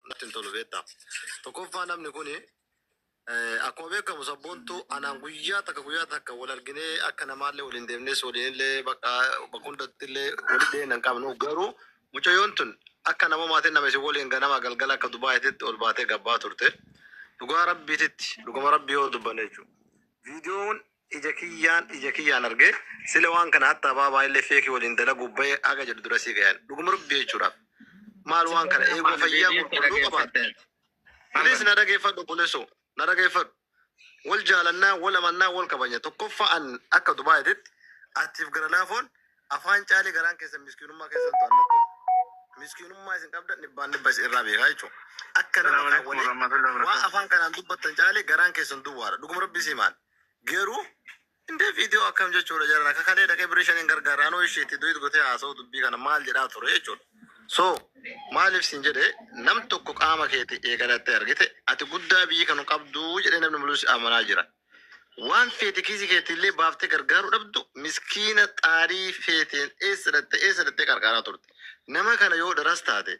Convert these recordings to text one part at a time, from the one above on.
natti hin tolu beektaa. Tokkoffaa namni kun akkuma beekamu sabboontu anaan guyyaa takka guyyaa takka wal arginee akka namaallee waliin deemnes waliinillee bakka bakka hundatti illee walitti dhiyeenya hin qabnu garuu mucayyoon tun akka nama maatiin nama isin waliin ganama galgala akka dubaaititti ol baatee gabbaa turte dhugaa rabbiititti dhugama rabbii yoo dubbanne jechuudha. Viidiyoon Ija kiyyaan ija kiyyaan arge sila waan kana hatta abaa baay'illee feeki waliin dalaguu baye aga jedhu dura sii gayan dhuguma rabbi jechuudhaaf maal waan kana eeguu fayyaa qulqulluu qabaatte please na dhageeffadhu bulesu na dhageeffadhu wal jaalannaa wal amannaa wal kabanya tokkoffaa an akka dubaayititti atiif gara laafoon afaan caalee garaan keessan miskiinummaa keessan to'annattu miskiinummaa isin qabda dhibbaan dhibba isin irraa beekaa jechuudha. Akka nama kan waliin waan afaan kanaan dubbattan caalee garaan keessan duwwaadha. Dhuguma rabbi sii maal. Garuu indee viidiyoo akkam jechuudha jaran akka kalee dhaqee birrii shaniin gargaara anoo ishee itti du'it gotee haasa'u dubbii kana maal jedhaa ture jechuudha. So maaliif siin jedhe nam tokko qaama keeti eegalattee argite ati guddaa biyyi kanu qabduu jedhee namni mulus amanaa jira. Waan feete kiisii keetti illee baaftee gargaaruu dhabdu miskiina xaarii feeteen eessa dhatte eessa dhattee qarqaaraa turte. Nama kana yoo dharas taate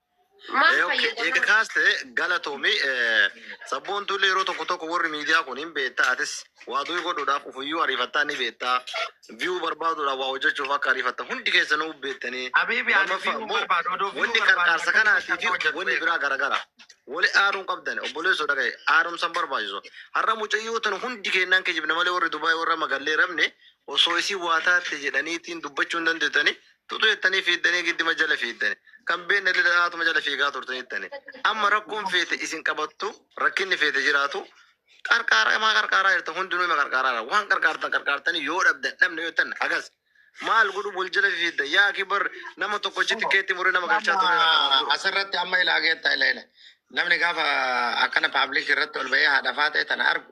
Maal Eh, ok, eega fayyadama? kaaste galatoomi. Eh, Sabboontuu illee yeroo tokko tokko warri miidiyaa kun hin beektaa atis waa durii godhuudhaaf ufuyyuu ariifattaa ni beektaa. Viyuu barbaaduudhaaf waa hojjechuuf akka ariifatta hundi keessanuu beektanii. Habiibi ani Lammaffaa viyuu immoo barbaadu odoo viyuu wanni barbaadu qarqaarsa akkamitti kanaatii fi hojjechuu hojjetu wanni beeka. biraa garagara. Wali aaruun qabdan obboleessoo dhagaye aarumsan barbaachisu. Har'a mucayyoo tan hundi kennaan kijibna malee warri Dubaay warra magallee rabne osoo isii waa taatte jedhaniitiin dubbachuu hin dandeettanii Tutu jettanii fiiddanii giddima jala fiiddani. Kan beekne illee dhanaatuma jala fiigaa turtanittani. Amma rakkoon feete isin qabattu rakkinni feete jiraatu qarqaara imaa qarqaaraa jirta hundinuu ima qarqaaraa jira. Waan qarqaartan qarqaartanii yoo dhabdan dhabne yoo jettan agas maal godhu wal jala fiidda yaa kibar nama tokko achitti keetti muree nama galchaa ture irra kanaan dura. Asirratti amma ilaa geetta ila ila. Namni gaafa akkana paablik irratti ol ba'ee haadha faatee tana argu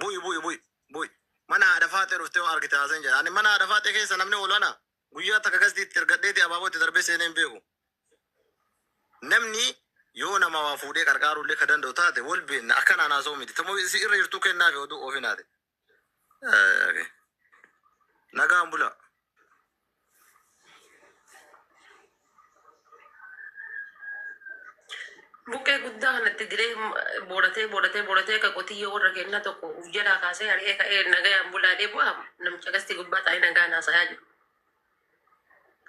Bu'i bu'i bu'i bu'i. Mana haadha faaxee dhuftee yoo argite haasan jedha. Ani mana haadha faaxee keessa namni oolu ana guyyaa takka gasdii itti ergadheeti abaaboo itti darbee seenee hin beeku. Namni yoo nama waa fuudhee qarqaaruu illee ka danda'u taate wal beenna akkanaan haasa'uu miti. Tamoo isi irra jirtuu kennaa fi oduu oofinaati. Eh, okay. Nagaan bula. Buqqee guddaa kanatti diree booratee booratee booratee akka qotiyyoo warra kennaa tokko uf jalaa kaasee ari'ee ka'ee nagayaan bulaa deebi'u amma namicha qastii gubbaa taa'ee nagaa naasayaa jiru.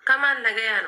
Kamaan nagayaan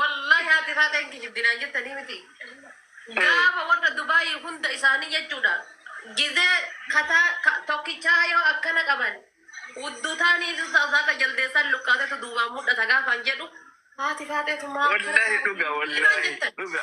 Wallahi haati faaxee hin kijibdi naan jettanii miti. Gaafa warra Dubaayii hunda isaanii jechuudha. Gizee kataa ka- tokkichaa yoo akkana qaban udduu taanii saaka jaldeessaan luqqaatetu duubaan mul'ata gaafaan jedhu haati faaxeetu maaf kana Wallahi dhuga naan wallahi jettan. dhuga.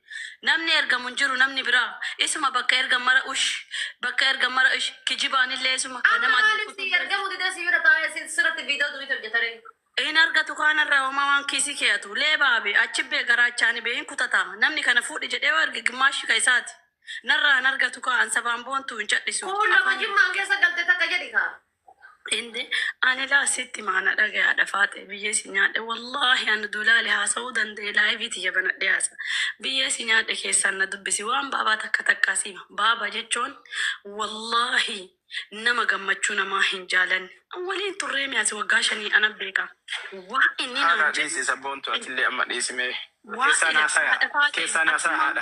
Namni ergamu hin jiru namni biraa isuma bakka ergan mara ush bakka ergan mara ush kijibaanillee isuma ka Akka nama adda maaliif sii kutullee. ergamu didee sii bira taa'ee si- sirratti viidiyoo duwwiitti hojjeta ree? Hin argatu kaanarraa homaa waan kiisii keeyatu leebaa be achi be garaachaani be hin kutata namni kana fuudhi jedhee yoo erge gimmaashi ka isaati narraa hin argatu kaa an sabaan boontu hin cadhisu Kuulloo ka afaan jimmaan keessa galte takka jedhi kaa. Inde ani laa sitti hima ana dhagayaadha faaxe biyyee si nyaadhe wallahi ani dulaale haasa'uu danda'e laayivii tiyya banadhee haasa biyyee si nyaadhe keessaan na dubbisi waan baabaa takka takkaa si hima baaba jechoon wallahi nama gammachuu namaa hin jaalanne an waliin turree mee asi waggaa shanii ana beeka waa inni Haadhaa naan jedhu dhiisi sabboontu atillee amma dhiisi mee. Keessaan haasaya keessaan haasaya haadha.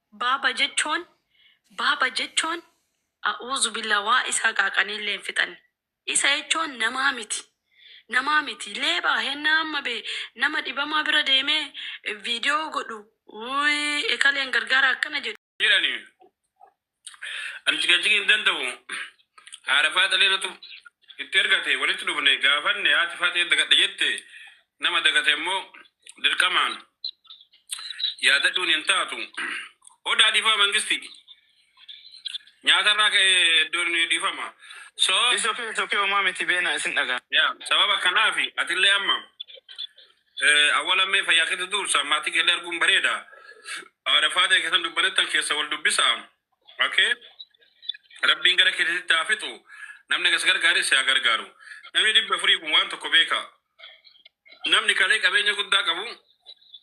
Baba jechoon Baba jechoon A'uuzubillah waa isaa qaaqanii illee hin fixanne Isa jechoon namaa miti Namaa miti Leebaa hennaa amma bee nama dhibamaa bira deemee video godhu uuy ekaleen gargaara akkana jedhu jedhani Ani ciqaciqi hin danda'u Haadha faaxalee natu itti ergate walitti dhufne gaafanne haati faaxee dagadhe jette Nama dagate immoo dirqamaan yaadadhuun hin taatu. Odaa dhiifama mangistii. Nyaata irraa ka'e iddoon dhiifama. So, It's okay, it's okay, homaa miti beena isin dhagaa. yaa sababa kanaaf atillee amma eh, awwala mee fayyaa keetti duursa maatii keellee arguun bareeda. Haadha faadee keessan dubbanettan keessa wal dubbisa. Okay? Rabbiin gara keetitti haa fixu. Namni gas gargaaris haa gargaaru. Namni dhibba furii kun waan tokko beeka. Namni kalee qabeenya guddaa qabu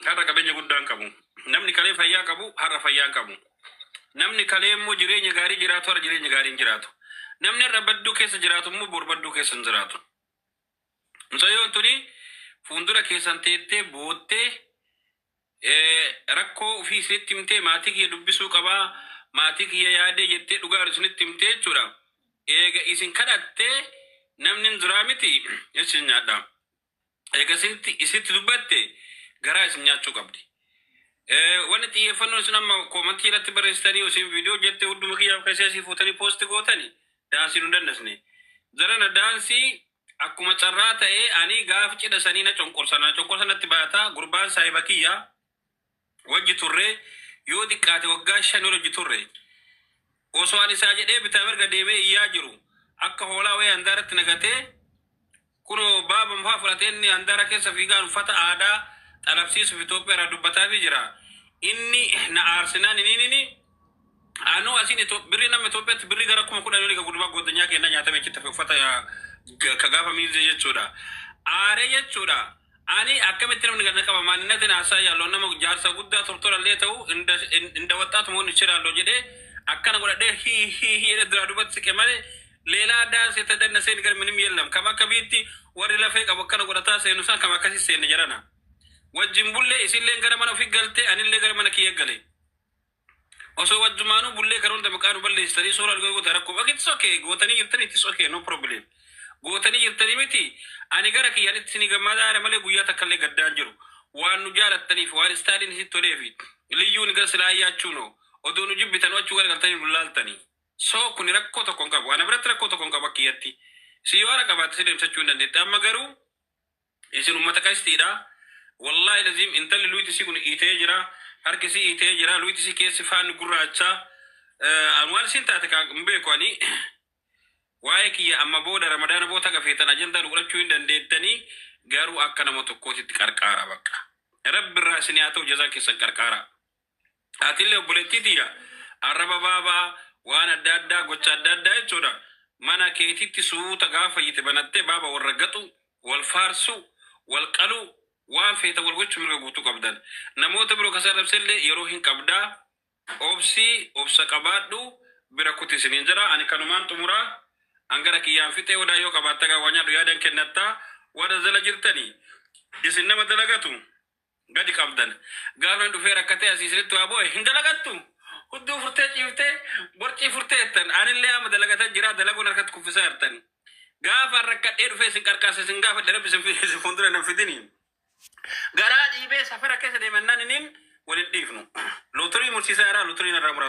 har'a qabeenya guddaa hin qabu. Namni kalee fayyaa qabu har'a fayyaa hin qabu. Namni kalee immoo jireenya gaarii jiraatu har'a jireenya gaarii hin jiraatu. Namni har'a badduu keessa jiraatu immoo bor badduu keessa hin jiraatu. Mucayyoon tuni fuuldura keessan teettee boottee Rakkoo ufii isinitti himtee maatii kiyya dubbisuu qaba, maatii kiyya yaadee jettee dhugaa jiru isinitti himtee jechuudha. Eega isin kadhattee namni hin jiraa miti isin nyaadha. Eega isinitti isitti dubbatte garaa isin nyaachuu qabdi. Wanni xiyyeeffannoo isin amma koomantii irratti barreessitanii isin viidiyoo jette hudduma kiyyaaf keessee isii fuutanii poosti gootani daansii nu dandasne. Jarana daansii Akkuma carraa ta'ee anii gaaf cidha sanii na conqorsa naa conqorsa natti baata gurbaan saahiba kiyya wajji turre yoo diqqaate waggaa shan ol wajji turre osoo an isaa jedhee bitaa mirga deemee iyyaa jiru akka hoolaa wayii handaaratti na gatee kunoo baaba mufaa fudhatee inni handaara keessa fiigaan uffata aadaa xalabsiisuuf Itoophiyaa irraa dubbataafii jira inni na aarsinaan iniinini Anuu asiin Ito- birri nama Itoophiyatti birri gara kuma kudhan olii ka gurbaa goddanyaa keennaa nyaatame achitti hafe uffata yaa- ga- ka gaafa miilzee jechuudha. Aaree jechuudha. Ani akkamitti namni gad na qaba maaninatin haasaa yaalloon nama jaarsa guddaa tortora illee ta'u inda in- inda waxxaatu moon ichiraalloo jedhee akkana godhadhee hii hii hii jedhee duraa duubatti siqe malee leelaa daansi ta danna seen gara minim yellam kam akka biitti warri lafee qabu akkana godhataa seenu san kam akkasi seenne jarana. Wajjin bullee isilleen gara mana ofii galtee anillee gara mana kiyya galee. Osoo wajjumaanuu bullee kan hunda maqaa nu balleessitanii suuraa nu goota rakkoo ok it's ok gootanii jirtanii it's ok no problem gootanii jirtanii miti ani gara kiyyaan itti isinii gammadaa jira malee guyyaa takka illee gaddaan jiru waan nu jaalattaniif waan istaaliin isin tolee fi liyyuun gara silaa ayyaachuu noo odoo nu jibbitan achuu gara galtanii nu laaltanii soo kuni rakkoo tokko hin qabu ana biratti rakkoo tokko hin qabu akka kiyyatti si yoo ana qabaatte si deemsachuu hin dandeette amma garuu Isin ummata qashtiidha wallahi laziim intalli luyti isii kun iitee jira harki isii iitee jira luyti isii keessi faanni gurraacha an waan isiin taate kaa hin beeku ani waa'ee kiyya amma booda ramadaana boota haga feetan ajandaa nu godhachuu hin dandeettanii garuu akka nama tokkootitti qarqaaraa baqqa rabbi irraa isinii haa ta'u jazaa keessan qarqaaraa. Atille obboleettii tiyya, arraba baabaa, waan adda addaa, gocha adda addaa jechuudha, mana keetitti suuta gaafa fayyite banattee baaba wal raggaxuu, wal faarsuu, wal qaluu, waan feetan wal gochuu mirga guutuu qabdan. Namoota biroo ka si arrabselle yeroo hin qabda. Obsi, obsa qabaadhu, bira kuti isiniin jedha. Ani kanumaan xumura. An gara kiyyaan fixe. Hodaa yoo qabaatte egaa waa nyaadhu yaadan kennatta. Warra jala jirtani, isin nama dalagatu. gadi qabdan gaafa hin dhufee rakkatee asii isinitti waa boo'e hin dalagattu hudduu furtee ciiftee borcii furtee jettan anillee amma dalagata jira dalaguun harkatti kuffisaa jirtan gaafa rakkadhee dhufee isin qarqaarsa isin gaafadhe rabbi isin fi- isin fuuldura nan fidini garaa dhiibee safara keessa deemannaan inin wal hin dhiifnu lotorii mursiisaa irraa lotorii narraa murata.